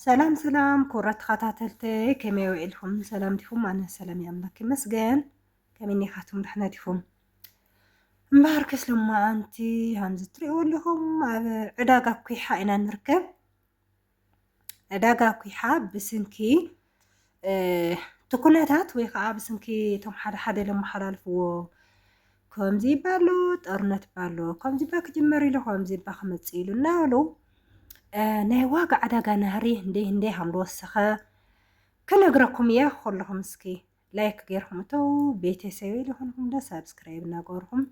ሰላም ሰላም ክቡራት ተኸታተልተይ ከመይ ውዒልኩም ሰላም ዲኹም ኣነ ሰላም እየ ኣምላክ ይመስገን ከመይ ኒኻትኩም ዳሕና ዲኹም እምበሃር ከስ ሎማዓንቲ ከምዚ ትሪእዎ ኣለኹም ኣብ ዕዳጋ ኩሓ ኢና ንርከብ ዕዳጋ ኩሓ ብስንኪ እቲ ኩነታት ወይ ከዓ ብስንኪ እቶም ሓደ ሓደ ለመሓላልፍዎ ከምዚ ባሎ ጦርነት ባሎ ከምዚ ባ ክጅመር ኢሉ ከምዚ ባ ክመፅእ ኢሉ እናበሉ ናይ ዋጋ ዕዳጋ ናህሪ እንደይ እንደይ ሃም ዝወሰኸ ክነግረኩም እየ ኩልኹም እስኪ ላይክ ገይርኩም እተው ቤተሰበይ ዝኾንኩም ዶ ሳብስክራይብ እናገበርኩም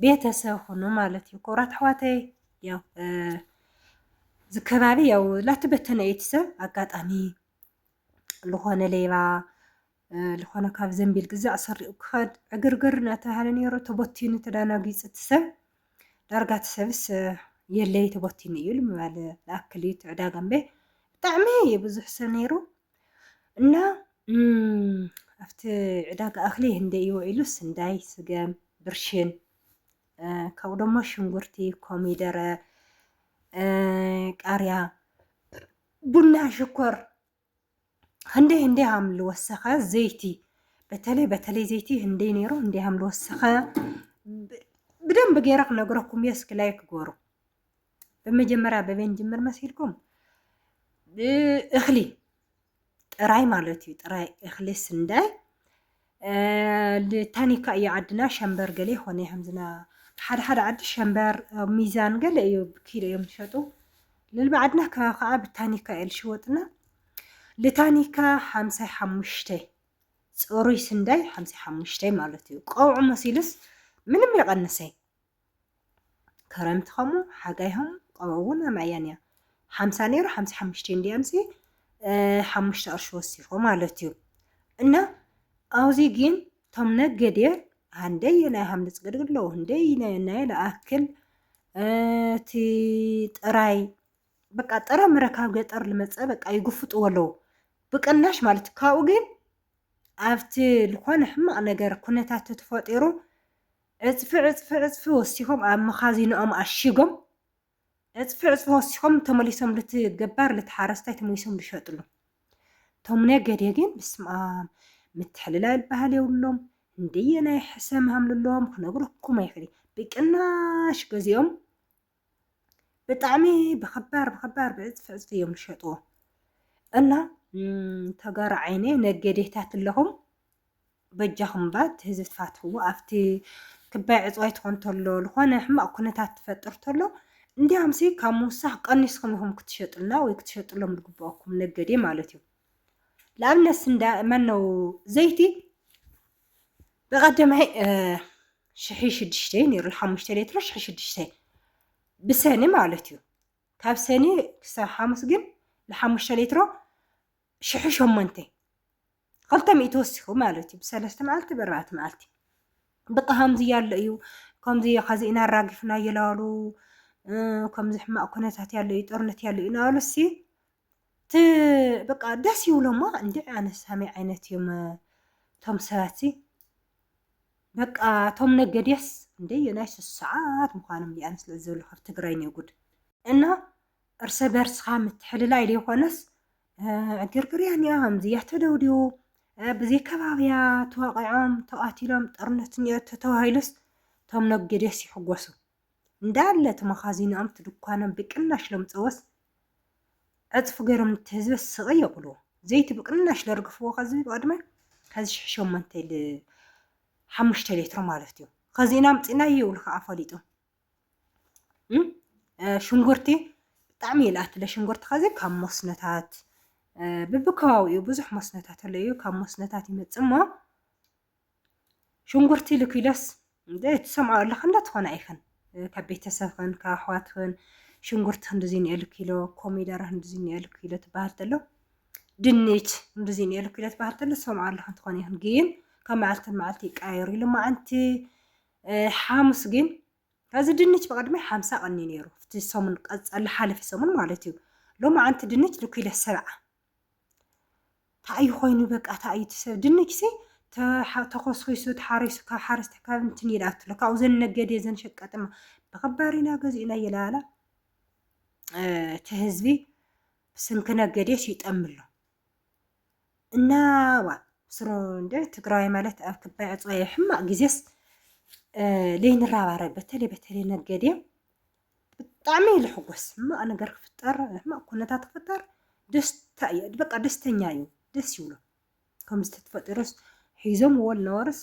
ቤተሰብ ሁኑ ማለት እዩ። ክቡራት ኣሕዋተይ ያው እዚ ከባቢ ያው ላተበተነ እዩ እቲ ሰብ ኣጋጣሚ ዝኾነ ሌባ ዝኾነ ካብ ዘንቢል ግዛዕ ሰሪኡ ክኸድ ዕግርግር እናተባሃለ ነይሩ ተቦቲኑ ተዳናጊፁ እቲ ሰብ ዳርጋ እቲ ሰብስ የለይ ተቦቲኑ እዩ ምባል ዝኣክል እዩ እቲ ዕዳጋ እምበይ ብጣዕሚ ብዙሕ ሰብ ነይሩ እና ኣብቲ ዕዳጋ እኽሊ ህንደይ እዩ ኢሉ ስንዳይ፣ ስገም፣ ብርሽን ካብኡ ደሞ ሽንጉርቲ፣ ኮሚደረ፣ ቃርያ፣ ቡና፣ ሽኮር ህንደይ ህንደይ ሃም ልወሰኸ ዘይቲ በተለይ በተለይ ዘይቲ ህንደይ ነይሩ ህንደይ ሃም ልወሰኸ ብደንብ ገይረ ክነግረኩም እየ እስኪ ላይክ ጎሩ ብመጀመርያ በበይን ጅምር መሲልኩም እኽሊ ጥራይ ማለት እዩ ጥራይ እኽሊ ስንዳይ ታኒካ እዩ ዓድና ሸንበር ገለ ይኾነ ከምዝና ሓደ ሓደ ዓዲ ሸንበር ሚዛን ገለ እዩ ኪሎ እዮም ዝሸጡ ልልቢ ዓድና ከባቢ ከዓ ብታኒካ እዩ ዝሽወጥና ልታኒካ ሓምሳይ ሓሙሽተ ፅሩይ ስንዳይ ሓምሳይ ሓሙሽተ ማለት እዩ ቀውዑ መሲልስ ምንም ይቐንሰይ ክረምቲ ከምኡ ሓጋይ ከምኡ ቀውዒ እውን ኣምዕያን እያ ሓምሳ ነይሩ ሓምሳ ሓሙሽተ እንዲያ ምሴ ሓሙሽተ ቅርሺ ወሲኾ ማለት እዩ እና ኣብዚ ግን ቶም ነገዴ ሃንደይ ናይ ሃምልፅ ግድግድ ኣለዎ ህንደይ ናይ ለኣክል እቲ ጥራይ በቃ ጥረ ምረ ካብ ገጠር ልመፀ በቃ ይጉፍጥዎ ኣለዎ ብቅናሽ ማለት ካብኡ ግን ኣብቲ ዝኾነ ሕማቕ ነገር ኩነታት ተፈጢሩ ዕጽፊ ዕጽፊ ዕጽፊ ወሲኾም ኣብ መኻዚኖኦም ኣሺጎም ዕጽፊ ዕጽፊ ወሲኾም ተመሊሶም ልቲ ገባር ልቲ ሓረስታይ ተመሊሶም ልሸጥሉ ቶም ነገዴ ግን ብስምኣም ምትሕልላል ባህል የብሎም እንደየናይ ሕሰም ሃምልሎም ክነግረኩም ኣይክእል ብቅናሽ ገዚኦም ብጣዕሚ ብክባር ብክባር ብዕፅፊ ዕፅፊ እዮም ዝሸጥዎ እና ተጋሩ ዓይነ ነገዴታት ኣለኹም በጃኹም ባ እቲ ህዝቢ ትፋትሕዎ ኣብቲ ክባይ ዕፅዋይ ትኾን ተሎ ዝኾነ ሕማቕ ኩነታት ትፈጥር ተሎ እንዲያምሲ ካብ ምውሳኽ ቀኒስኩም ኢኹም ክትሸጡልና ወይ ክትሸጡሎም ዝግበአኩም ነገዴ ማለት እዩ ንኣብነት ስንዳ መነው ዘይቲ ብቐደማይ ሽሒ ሽዱሽተ ነይሩ ሓሙሽተ ሌትሮ ሽሒ ሽዱሽተ ብሰኒ ማለት እዩ ካብ ሰኒ ክሳብ ሓሙስ ግን ንሓሙሽተ ሌትሮ ሽሒ ሸሞንተ ክልተ ሚእቲ ወሲኹ ማለት እዩ ብሰለስተ መዓልቲ ብኣርባዕተ መዓልቲ በቃ ከምዚ ያለ እዩ ከምዚ ከዚ ኢና ኣራጊፍና ይላሉ ከምዚ ሕማቅ ኩነታት ያለ እዩ ጦርነት ያለ እዩ ናበሉ ሲ ት በቃ ደስ ይብሎማ እንዴ ኣነስ ሃመይ ዓይነት እዮም ቶም ሰባትሲ በቃ ቶም ነገድያስ እንዴ ናይ ሶስት ሰዓት ምዃኖም እንዴ ኣነስ ልዕል ዝበሉ ካብ ትግራይ ኔ ጉድ እና እርሰ በርስኻ ምትሕልላይ ዘይኮነስ ዕግርግርያ እኒኣ ከምዚያ ተደውዲቡ ብዘይ ከባብያ ተዋቒዖም ተቓቲሎም ጦርነት እኒኦ ተተባሂሉስ እቶም ነጌድያስ ይሕጎሱ እንዳለ እቲ መኻዚኖኦም እቲ ድኳኖም ብቅናሽ ለምጸዎስ ዕጽፊ ገሮም ነቲ ህዝበ ስቅ የብልዎ ዘይቲ ብቅናሽ ለርግፍዎ ከዚ ብቅድመ ከዚ ሽሕ ሸሞንተ ል ሓሙሽተ ሌትሮ ማለት እዩ ከዚ ኢና ኣምጺናዮ ይብሉ ከኣ ፈሊጡ ሽንጉርቲ ብጣዕሚ እዩ ልኣቲ ለሽንጉርቲ ከዚ ካብ መስኖታት ብብከባቢኡ ብዙሕ መስኖታት ኣለዩ ካብ መስኖታት ይመጽእ እሞ ሽንጉርቲ ኢሉ ኪሎስ እንደ ትሰምዖ ኣለኻ እንደ ትኾነ ኣይኸን ካብ ቤተሰብኽን ካብ ኣሕዋትኽን ሽንጉርቲ ክንድዚ ንኤሉ ኪሎ ኮሚደረ ክንድዚ ንኤሉ ኪሎ ትበሃል ተሎ ድንች ክንድዚ ንኤሉ ኪሎ ትበሃል ተሎ ትሰምዖ ኣለኻ እንትኾነ ይኹን ግን ካብ መዓልቲ መዓልቲ ይቀያየሩ ኢሉ መዓንቲ ሓሙስ ግን ከዚ ድንች ብቐድሚ ሓምሳ ቀኒ ነይሩ እቲ ሰሙን ቀፀሊ ሓለፊ ሰሙን ማለት እዩ ሎሚ ዓንቲ ድንች ንኪሎ ሰብዓ ታኣዩ ኮይኑ በቃ ታኣዩ ትሰብ ድንችሲ ተኾስኺሱ ተሓሪሱ ካብ ሓረስታይ ካብ እንትን እዩ ዝኣቱ ካብኡ ዘን ነገድ ዘን ሸቀጥማ ብኸባሪና ገዚኡና እየላላ እቲ ህዝቢ ስንኪ ነገዴስ ይጠምሎ እና ዋ ስሮ እንደ ትግራዋይ ማለት ኣብ ክባይ ዕፅዋይ ሕማቅ ጊዜስ ለይንራባረ በተለይ በተለይ ነገዴ ብጣዕሚ እዩ ልሕጎስ ሕማቅ ነገር ክፍጠር ሕማቅ ኩነታት ክፍጠር ደስታ እዩ በቃ ደስተኛ እዩ ደስ ይብሎ ከምዚ ተፈጢሩስ ሒዞምዎ ልነበሩስ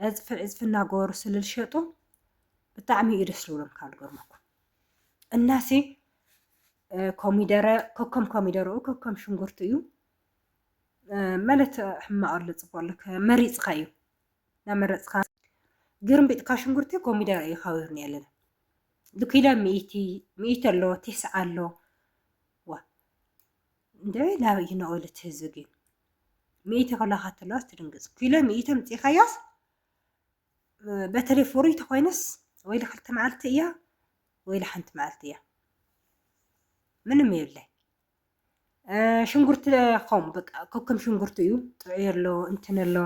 ዕፅፊ ዕፅፊ እናገበሩ ስለልሸጡ ብጣዕሚ እዩ ደስ ዝብሎም ካብ ዝገርመኩም እናሲ ኮሚደረ ከከም ኮሚደረኡ ከከም ሽንጉርቲ እዩ መለት ሕማቕ ኣሎ ፅቡቅ ኣሎ መሪፅካ እዩ ናመረፅካ ግርምቢጥካ ሽንጉርቲ ኮሚደረ እዩ ካቢርኒ ኣለና ኪሎ ሚእቲ ሚእቲ ኣሎ ቲስዓ ኣሎ ዋእ እንደ ናበይ እዩ ነቒሉ እቲ ህዝቢ ግን ሚእቲ ክብላካ ተለዋስ ትድንግፅ ኪሎ ሚእቲ ኣምፂእካያስ በተለይ ፍሩይ ተኮይነስ ወይ ክልተ መዓልቲ እያ ወይ ሓንቲ መዓልቲ እያ ምንም የብላይ ሽንጉርቲ ከምኡ በቃ ከከም ሽንጉርቲ እዩ ጥዑይ ኣሎ እንትን ኣሎ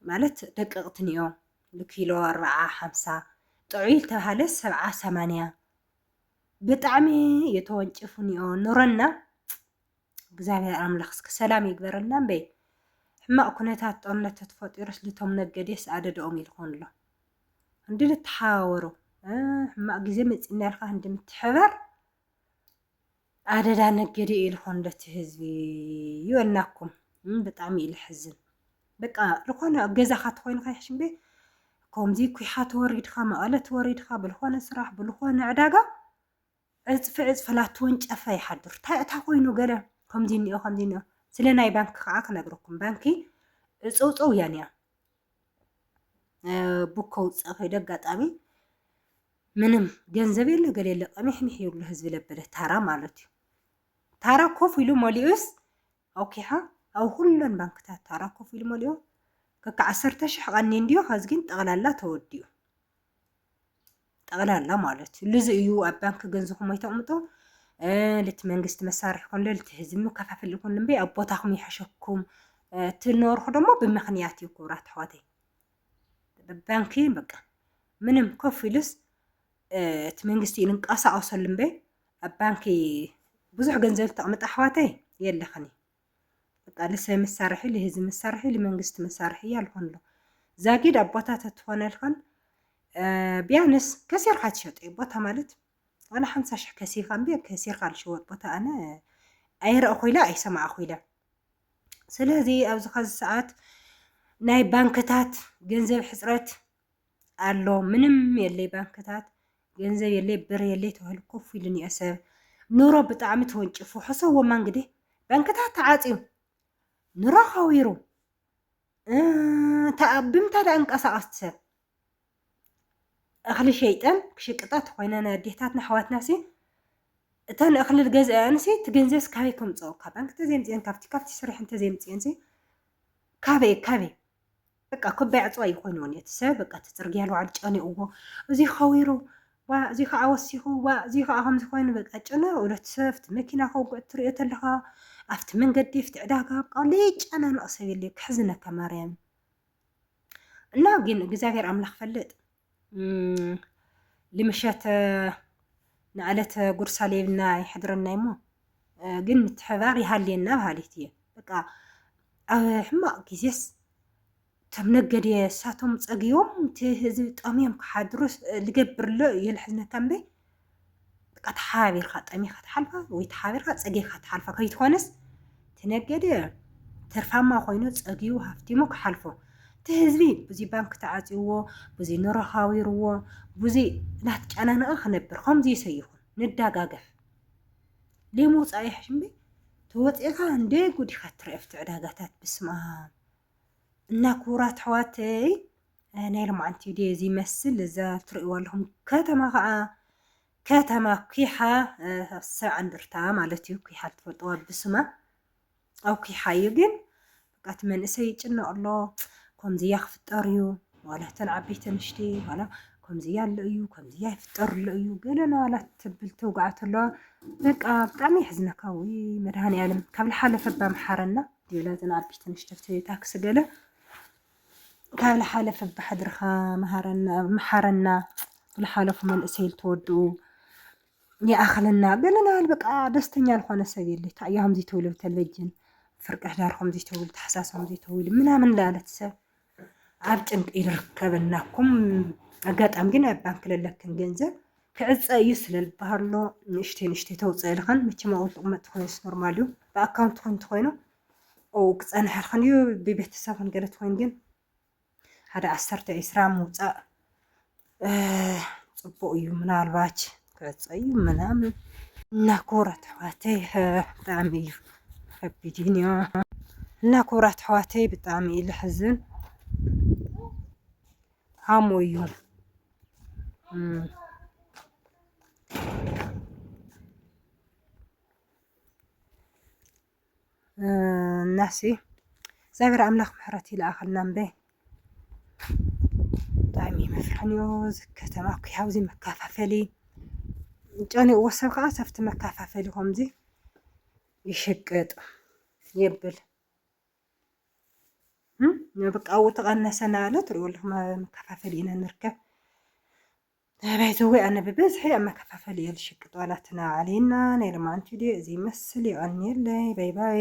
ማለት ደቀቕትን እዮ ንኪሎ ኣርብዓ ሓምሳ ጥዑይ ዝተባሃለ ሰብዓ ሰማንያ ብጣዕሚ እዮ ተወንጭፉን እዮ ኑረና እግዚኣብሔር ኣምላኽ እስኪ ሰላም ይግበረልና እምበይ ሕማቕ ኩነታት ጦርነት ተፈጢሩስ ልቶም ነገዴስ ኣደደኦም ይልኾን ኣሎ እንዲ ልተሓዋወሩ ሕማቕ ግዜ መፂና ኢልካ እንድምትሕበር ኣደዳ ነገዲ ኢልኩም ነቲ ህዝቢ ይበልናኩም ብጣዕሚ እዩ ልሕዝን በቃ ዝኾነ ኣብ ገዛኻ ተኾይኑ ከይሕሽም ቤ ከምዚ ኩሓ ተወሪድካ መቐለ ተወሪድካ ብልኾነ ስራሕ ብልኾነ ዕዳጋ ዕፅፊ ዕፅፊ ላቲ ወንጨፈ ይሓድር እንታይ እታ ኮይኑ ገለ ከምዚ እኒኦ ከምዚ እኒኦ ስለ ናይ ባንኪ ከዓ ክነግረኩም ባንኪ ዕፀውፀው እያ እኒኣ ቡክ ከውፅእ ከይደ ኣጋጣሚ ምንም ገንዘብ የለ ገለ የለ ቀሚሕሚሕ ይብሉ ህዝቢ ለበለ ታራ ማለት እዩ ታራ ኮፍ ኢሉ መሊኡስ ኣውኪሓ ኣብ ኩለን ባንክታት ታራ ኮፍ ኢሉ መሊኡ ከካ ዓሰርተ ሽሕ ቀኒ እንዲዮ ከዚ ግን ጠቕላላ ተወዲኡ ጠቕላላ ማለት እዩ ልዚ እዩ ኣብ ባንኪ ገንዝኹም ኣይተቕምጦ ልቲ መንግስቲ መሳርሒ ኮን ልቲ ህዝቢ መከፋፈል ይኹን እምበይ ኣብ ቦታኹም ይሓሸኩም ትነርኹ ደግሞ ብምክንያት እዩ ክብራት ኣሕዋተይ ባንኪ በቃ ምንም ኮፍ ኢልስ እቲ መንግስቲ እዩ ንንቀሳቐሰሉ እምበይ ኣብ ባንኪ ብዙሕ ገንዘብ ተቕምጣ ኣሕዋተይ የለኽን እዩ በቃ ልሰ መሳርሒ ልህዚ መሳርሒ ልመንግስቲ መሳርሒ ያልሆንሎ ዛጊድ አቦታ ተትኾነልኸን ቢያንስ ከሲርካ ትሸጦ እዩ ቦታ ማለት ዋላ ሓምሳ ሽሕ ከሲርካ እምቢ ከሲርካ ልሽወጥ ቦታ ኣነ ኣይረእኹ ኢለ ኣይሰማዕኹ ኢለ ስለዚ ኣብዚ ኸዚ ሰዓት ናይ ባንክታት ገንዘብ ሕፅረት ኣሎ ምንም የለይ ባንክታት ገንዘብ የለይ ብር የለይ ተባሂሉ ኮፍ ኢሉ እኒኦ ሰብ ኑሮ ብጣዕሚ ተወንጭፉ ሕሰቦማ እንግዲህ ባንክታት ተዓፅዩ ኑሮ ከዊሩ ብምንታይ ደኣ እንቀሳቐስ ሰብ እኽሊ ሸይጠን ክሽቅጣ ተኮይነን ኣዴታትና ኣሕዋትና ሲ እተን እኽሊ ዝገዝኣን ሲ እቲ ገንዘብስ ካበይ ከምፅኦ ካብ ባንክ ተዘይምፅኤን ካብቲ ካብቲ ስርሐን ተዘይምፅኤን ሲ ካበይ ካበይ በቃ ክበይ ኣጽዋይ እዩ ኮይኑ ነቲ ሰብ በቃ እቲ ጽርግያ ንባዕሉ ጨኒቕዎ እዚ ከዊሩ ዋ እዚ ከዓ ወሲኹ ዋ እዚ ከዓ ከምዚ ኮይኑ በቃ ጨነቕ ነቲ ሰብ ኣብቲ መኪና ከውግዕ እትሪኦ ተለኻ ኣብቲ መንገዲ ኣብቲ ዕዳጋ በቃ ዘይጨናነቕ ሰብ የለ ክሕዝነካ ማርያም እና ግን እግዚኣብሔር ኣምላኽ ፈልጥ ልምሸት ንዕለት ጉርሳ ሌብና ይሕድረና እሞ ግን ምትሕባር ይሃልየና በሃሊት እየ በቃ ኣብ ሕማቕ ግዜስ እቶም ነገድ እሳቶም ፀግዮም እቲ ህዝቢ ጠምዮም ክሓድሩስ ልገብርሎ ይልሕዝነካ እምበይ በቃ ተሓባቢርካ ጠሚኻ ትሓልፋ ወይ ተሓቢርካ ፀጊኻ ትሓልፋ ከይትኾነስ ትነገደ ትርፋማ ኮይኑ ፀጊቡ ሃፍቲሙ ክሓልፎ እቲ ህዝቢ ብዙ ባንክ ተዓፅዎ ብዙ ኑሮ ሃዊርዎ ብዙ እናተጨናነቐ ክነብር ከምዚ ይሰይኹን ንዳጋገፍ ሌሞ ወፃኢ ሕሽምበይ ተወፂእኻ እንደ ጉዲኻ ትረአ ኣብቲ ዕዳጋታት ብስማ እና ክቡራት ኣሕዋተይ ናይ ሎምዓንቲ ቪድዮ እዚ ይመስል እዛ ትርእይዋ ኣለኹም ከተማ ከዓ ከተማ ኩሓ ሰብዓ እንደርታ ማለት እዩ። ኩሓ ትፈልጥዋ ብስማ ኣብ ኩሓ እዩ ግን በቃ እቲ መንእሰይ ይጭነቕ ኣሎ ከምዚያ ክፍጠር እዩ ዋላ እተን ዓበይቲ ንሽቲ ዋላ ከምዚያ ኣሎ እዩ ከምዚያ ይፍጠር ኣሎ እዩ ገለና ዋላ ትብል ትውግዓት ኣለዋ በቃ ብጣዕሚ የሕዝነካ ውይ መድሃኒ ዓለም ካብ ዝሓለፈ ባምሓረና ገለ ዘናብሽ ትንሽ ተፍትሒ ታክሲ ገለ ካብ ልሓለፈ ብሓድርኻ መሃረና መሓረና ብልሓለፉ መንእሰይ ልትወድኡ ይኣኽለና ብለናል። በቃ ደስተኛ ልኾነ ሰብ የለ ታእዮ ከምዚ ትብሉ ብተለጅን ፍርቂ ሕዳር ከምዚ ትብሉ ተሓሳስ ከምዚ ትብሉ ምናምን ላለት ሰብ ኣብ ጭንቂ ይርከብ እናኩም ኣጋጣሚ ግን ኣብ ባንክ ለለክን ገንዘብ ክዕፀ እዩ ስለልበሃሎ ንእሽተ ንእሽተ ተውፅእ ልኸን መቸም ኣብኡ ጥቕመጥ ኮይኑ ኖርማል እዩ ብኣካውንት ኮይኑ ተኮይኑ ክፀንሐ ልኸን እዩ ብቤተሰብ ክንገለት ኮይኑ ግን ሓደ ዓሰርተ ዒስራ ምውፃእ ፅቡቅ እዩ ምናልባች ከፀዩ ምናምን እና ክቡራት ኣሕዋተይ ብጣዕሚ እዩ ከቢድን እዮ እና ክቡራት ኣሕዋተይ ብጣዕሚ እዩ ልሕዝን ሃሞ እዩ እናሲ እግዚኣብሔር ኣምላኽ ምሕረት ይልኣኸልና እምበ ብጣዕሚ መፍርሕን እዩ እዚ ከተማ እኮ ኣብዚ መካፋፈሊ ጨኒቕዎ ሰብ ከዓ ሰብቲ መካፋፈሊ ከምዚ ይሽቅጥ የብል በቃ ኣብኡ ተቐነሰ እናበለ ትሪኡ ኣለኹም መካፋፈሊ ኢና ንርከብ ኣቤትውይ ኣነ ብበዝሒ ኣብ መከፋፈሊ እየ ዝሽቅጥ ዋላ እቲ ናይ ኣሊና ናይ ሎማዓንቲ ድዩ እዚ ይመስል የቀንየለይ ባይ ባይ።